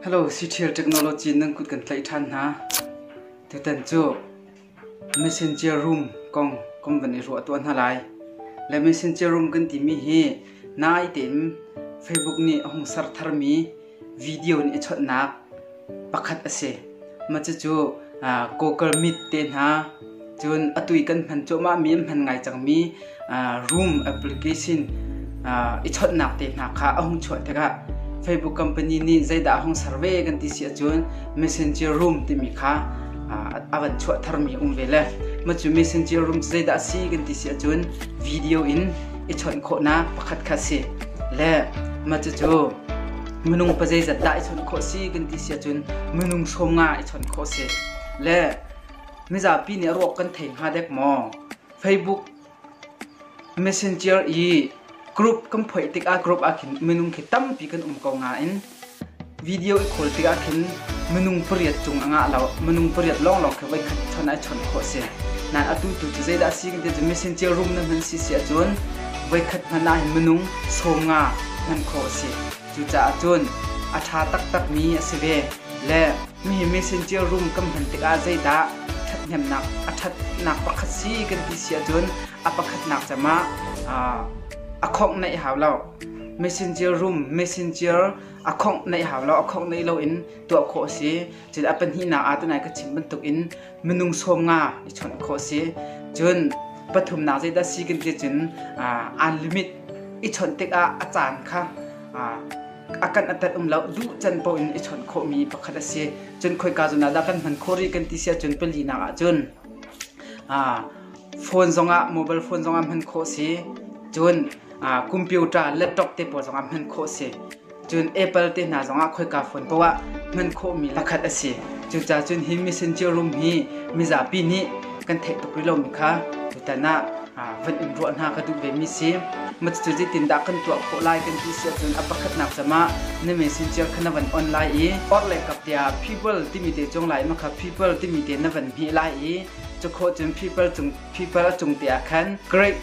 Hello, Ctrial Technology nan kut kan tlaih ṭhan hna. Tutan cu Messenger Room kong kan van i ruah tuah hna lai. Le Messenger Room kan timi hi nai tein Facebook nih a hung ser tharmi video nih i chawnhnak pakhat a si. Cucu Kawker mit te hna, cun atui kan hman cuahmahmi an hman ngai cangmi room application i chawnhnak te hna kha a hung chuah tikah Facebook company nih zeidah a hung survey kan ti si ahcun Messenger room timi kha a van chuah tharmi a um ve le matu Messenger room cu zeidah a si kan ti si ahcun video in i chawnh khawhnak pakhat kha a si le matu cu minung pa zeizat dah i chawnh khawh si kan ti sia cun minung hrawm nga i chawnh khawh si le mizapi nih ruak kan thei hnga dek maw facebook messenger i group kan phoih tik ah group ah khin minung khi tampi kan um ko nga in video i khawl tik ah khin minung pariat cung anga lo minung pariat long long khe voi khat chon ai chon khawh si nan atu tu cu zeidah si kan ti cu messenger room na hman si si ahcun voikhat hmanh ah hin minung sawm nga hman khawh a si. Cucaah cun a ṭha taktakmi a si ve. Le mihi messenger room kan hman tikah zeidah ṭhathnemnak a ṭhatnak pakhat si kan ti si ahcun a pakhatnak cem ah a khawngh naih hau lo. Messenger room, messenger a khawngh naih hau lo, a khawngh naih lo in tuah khawh a si. Cun a pahnihnak ah tunai ka chim bantukin minung sawm nga i chawnh khawh si cun pathumnak zeidah si kan ti cun unlimit i chawnh tikah a caan kha a kan atat um lo duh can po in i chawnh khawhmi pakhat a si cun khoika zon ah dah kan hman khawh rih kan ti sia cun palinak ah cun phone zongah mobile phone zongah hman khawh si cun computer laptop te pawl zongah hman khawh si Cun Apple te hna zongah khoika phone poah hman khawhmi lakhat a si. Cuca cun hi Messenger room hi mizapi nih kan theih tuk rih lomi kha tutan ah van in ruah hna ka duh vemi si. Cucu zeitindah kan tuah khawh lai kan ti si ahcun a pakhatnak cam ah na messenger kha na van on lai i orhle kaptea people timi te cung lai ma kha people timi te na van hmeh lai i cukhawh cun people cung people a cung te ah khan great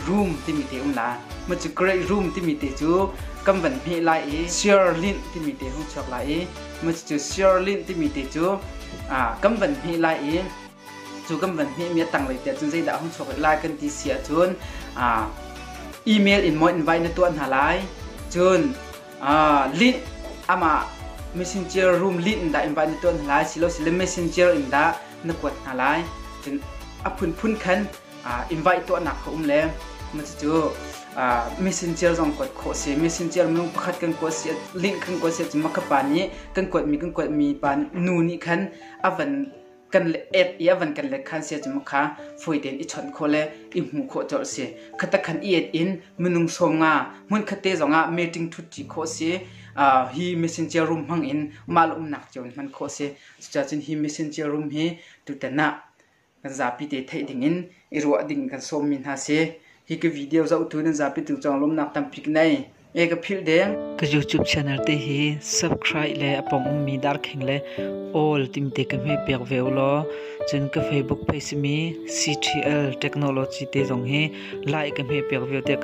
room timi te um la ma cu great room timi te cu kan van hmeh lai i sirlinh timi te hung chuak lai i ma cu sirlinh timi te cu kan van hmeh lai i cu kan van hmeh mi a tanglei te cun zeidah hung chuak lai kan ti si ahcun email in maw invite na tuah hna lai cun link amah messenger room link in dah invite na tuah hna lai si lo si le messenger in dah na kuat hna lai cun a phunphun khan invite tuahnak ka um le cucu mission cio zong kuat khawh si mission cio minung pakhat kan kuat si link kan kuat si cun maka pa nih kan kuatmi kan kuatmi pa nu nih khan avan kan ek i avan kan lek khan sia cuma kha foi ten i chon kho le i hmu kho chor si khata khan i et in minung som nga mun khatte zonga meeting thut chi kho si hi mission cia room hmang in mal umnak chon man kho si cucacun hi mission cia room hi tutana kan zapi te theih dingin i ruah ding kan sawmmi hna si. Hi ka video zohtu nan zapitu cang lawmnak tampi ka nei. E ka philh deng. Ka YouTube channel te hi subscribe le apong ummi darkheng le all timte ka hme pek ve lo. Cun ka Facebook page mi CTL Technology te zong hi like ka hme pek ve te ka